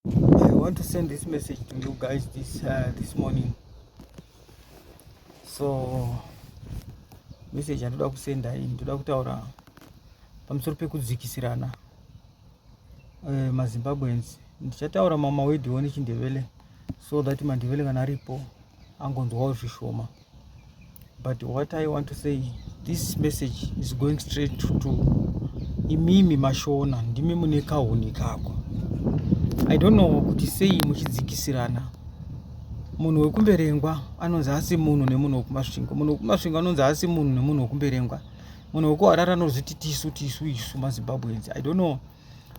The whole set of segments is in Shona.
I want to send this message to you guys this uh, this morning. So message yandoda kusenda iyi ndoda kutaura pamusoro pekudzikisirana uh, eh, mazimbabweans ndichataura mama wedhiwo nechindevele so that mandevele kana aripo angonzwawo zvishoma but what i want to say this message is going straight to, to imimi mashona ndimi mune kahuni kako i don't know kuti sei muchidzikisirana munhu wekumberengwa anonzi asi munhu nemunhu wekumasvingo munhu wekumasvingo anonzi asi munhu nemunhu wekumberengwa munhu wekuharara anozviti tisu tisu isu mazimbabweans i don't know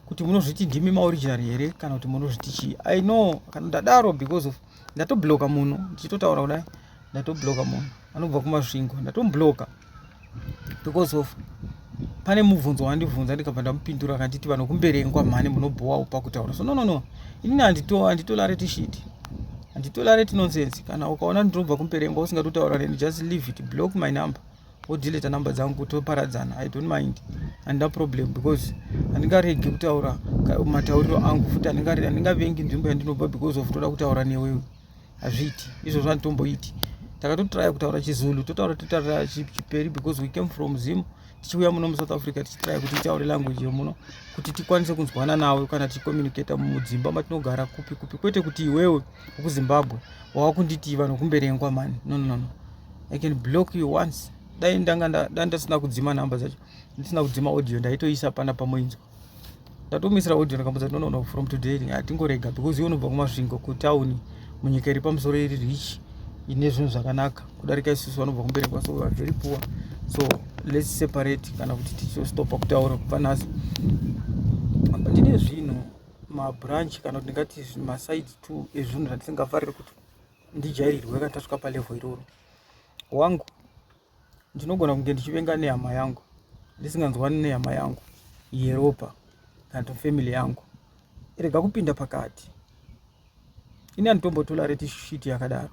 kuti munozviti ndimi maoriginal here kana kuti munozviti chii i know kana ndadaro because of ndatobloka munhu ndichitotaura kudai ndatobloka munhu anobva kumasvingo ndatomubloka because of pane mubvunzo wandibvunza ndikabva ndamupindura akanditi vanhu kumberengwa mhani munobhowawo pakutaura so nonono inini handitolare tishiti handitolare tinonsense kana ukaona ndinobva kumberengwa usingatotaura neni just leave it block my number wodeleta number dzangu toparadzana i don't mind handina problem because handingaregi kutaura matauriro angu futi handingavengi nzvimbo yandinobva because of toda kutaura newewe hazviiti izvozvo handitomboiti takatotraya kutaura chizulu totaura totaura chiperi because we came from zim tichiuya muno musouth africa tichitraya kuti itaure language yemuno kuti tikwanise kunzwana nawe kana tichicommunicata mudzimba matinogara kupi kupi kwete kuti iwewe ukuzimbabwe wava kunditi vanhu kumberengwa mani nononono no. i can block you once dai ndanga dai ndasina kudzima number dzacho ndisina kudzima audio ndaitoisa pana pamoinzwa ndatomisira audio ndakamudza no no no from today hatingorega because iwe unobva kumasvingo kutown munyika iri pamusoro iri rich ine zvinhu zvakanaka kudarika isusu vanobva kumberekwa so are very poor so let's separate kana kuti tichistopa kutaura kubva nhasi ndine zvinhu mabranch kana kuti ndingati maside two ezvinhu zvandisingafariri kuti ndijairirwe kana tasvika palevel iroro wangu ndinogona kunge ndichivenga nehama yangu ndisinganzwani nehama yangu yeropa kana kuti family yangu rega kupinda pakati ini anditombotola reti shiti yakadaro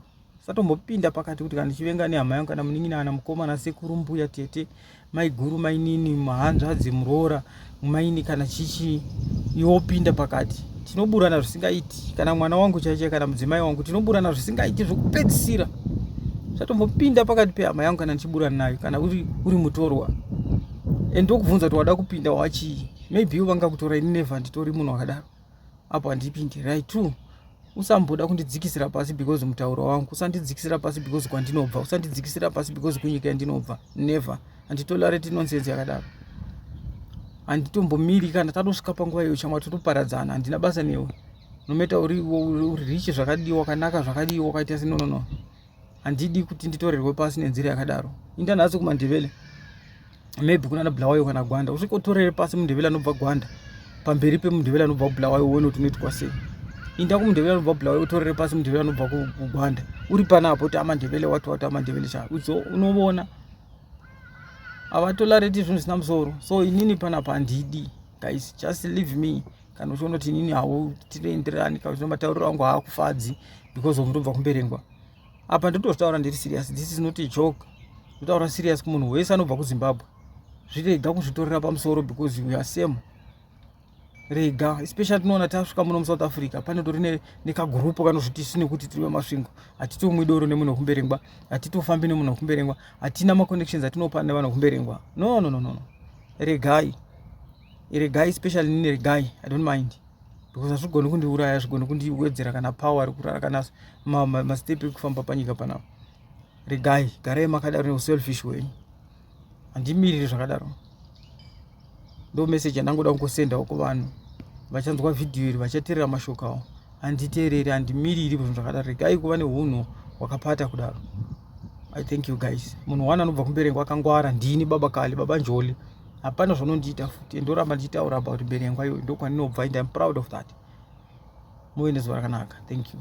satombopinda pakati kuti kana ndichivenga nehama yangu kana munin'ina kana mukoma nasekuru mbuya tete maiguru mainini mahanzvadzi muroora mumaini kana chichi iwopinda pakati tinoburana zvisingaiti kana mwana wangu chaiche kana mudzimai wangu tinoburana zvisingaiti zvokupedzisira zvatombopinda pakati pehama yangu kana ndichiburana nayo kana uri, uri mutorwa and ndokubvunza kuti wada kupinda wachii maybe vanga kutora ini neva nditori munhu wakadaro apo handipindirai two usamboda kundidzikisira pasi because mutauro wangu usandidzikisira pasi because kwandinobva usandidzikisira pasi because kunyika yandinobva never handitolareti nonsense yakadaro handitombomiri kana tatosvika panguva iyo chamwa totoparadzana handina basa newe nometa uri richi zvakadii wakanaka zvakadii wakaita sinonono handidi kuti nditorerwe pasi nenzira yakadaro inda nhasi kumandevele maybe kunana bulawayo kana gwanda usvika utorere pasi mundevele anobva gwanda pamberi pemundevele anobva kubulawayo uone kuti unoitwa sei inda kumundevele anobva bulawayo utorere pasi mundevele anobva kugwanda uri panapo ti amandevele wati wati amandevele cha udzo unovona havatolareti zvinhu zvisina musoro so inini panapa handidi guys just leave me kana uchiona kuti inini hautienderani kana uchiona matauriro angu haakufadzi because of ndobva kumberengwa apa ndinototaura ndiri serious this is not a joke ndotaura serious kumunhu wese anobva kuzimbabwe zvirega kuzvitorera pamusoro because we are same rega especially tinoona tasvika muno musouth africa panotori nekagurupu kanozviti isu nekuti tiri vemasvingo hatitomwi doro nemunhu wekumberengwa hatitofambi nemunhu wekumberengwa hatina maconnections atinopa nevanhu wekumberengwa no no no no regai iri guy especially nini iri guy i don't mind because hazvigoni kundiuraya hazvigoni kundiwedzera kana power ari kurara kana mastep ma, ma ekufamba panyika panapa iri guy garai makadaro neuselfish hwenyu handimiriri zvakadaro ndo message yandangoda kungosendawo kuvanhu vachanzwa vhidhiyo iri vachateerera mashoko awo handiteereri handimiriri zvinhu zvakadaro regai kuva neunhu hwakapata kudaro i thank you guys munhu one anobva kumberengo akangwara ndini baba kale baba njoli hapana zvaunondiita futi and oramba ndichitaura about mberi yangu ayo ndokwaninobva and im proud of that muve nezuva rakanaka thank you